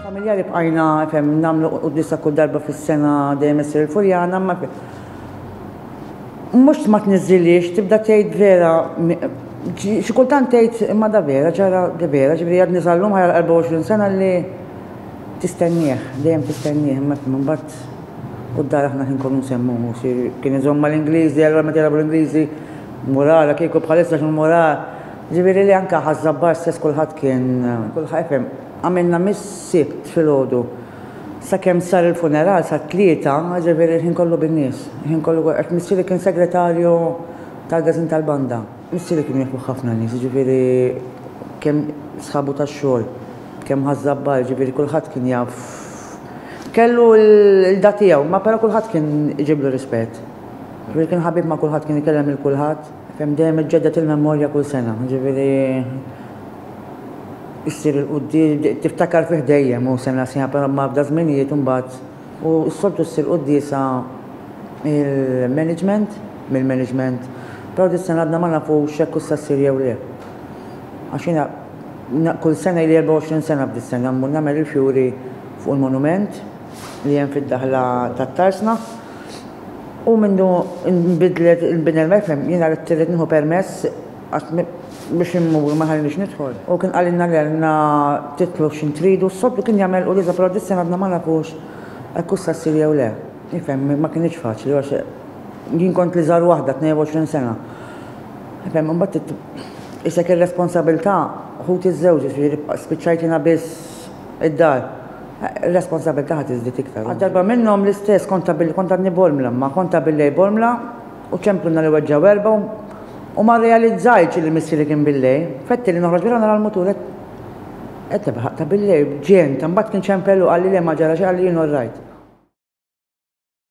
Familjari bqajna fem nagħmlu qudiesa kull darba fis-sena dejjem issir il-Furjana, ma mhux ma tniżżiliex tibda tgħid vera xi kultant tgħid imma da vera ġara da vera ġifieri għad niżallum ħajja 24 sena li tistennieh, dejjem tistennieh imma mbagħad u d-dar aħna kien kunu nsemmu kien iżomma l-Ingliżi, allura meta jilagħbu l-Ingliżi, murara kieku bħalissa x'mura Ġifieri li anke Ħaż-Żabbar stess kulħadd kien, kulħadd ifhem, għamilna mis-Sibt filgħodu sakemm sar il-funeral sat-Tlieta, ġifieri l-ħin kollu bin-nies, il-ħin kollu għax missieri kien segretarju tal-Gazin tal-Banda. Missieri kienu jafuh ħafna nies, jiġifieri kemm sħabu tax-xogħol, kemm Ħaż-Żabbar, jiġifieri kulħadd kien jaf kellu l-qda tiegħu, imma però kulħadd kien iġiblu rispett. Ġifieri kien ħabib ma' kulħadd, kien ikellem lil kulħadd. Kemm dejjem iġġedded il-memorja kull sena, ġifieri issir il-quddies, tiftakar fih dejjem u sena sena, però m'għafda żminijiet imbagħad u s-soltu ssir quddiesa il-management, mill-management, però dis-sena għadna ma nafux jekk hux se ssir jew le. Għax jiena kull sena ili 24 sena f'dis-sena mmur nagħmel il-fjuri fuq il-monument li hemm fid-daħla tat-Tarsna. U mindu nbidlet il-bini l-FM, jiena ridt irrid nieħu permess għax biex immur ma ħallinix nidħol. U kien qalilna li għandna titlu x'in tridu, s-soltu kien jagħmel u l-iżda però dis-sena għadna ma nafux hekk hux se ssir jew le. Ifhem, ma kinitx faċli għax jien kont l-iżgħar waħda, 22 sena. Ifhem, imbagħad trid qisek ir-responsabilità, ħuti żżewġu, jiġifieri spiċċajt jiena biss id-dar. r-responsabbiltà ħa tiżdied iktar. Għal darba minnhom l-istess kont tabilli kont għadni bormla, imma kont tabillej bormla u ċemplunna li weġġgħu erbgħa u ma rrealizzajtx li missieri kien billej. Fettilli noħroġ barra nara l-mutur qed qed jebħaq tabillej b'ġenta, imbagħad kien ċempel u qalli le ma ġara xejn, qalli jien orrajt.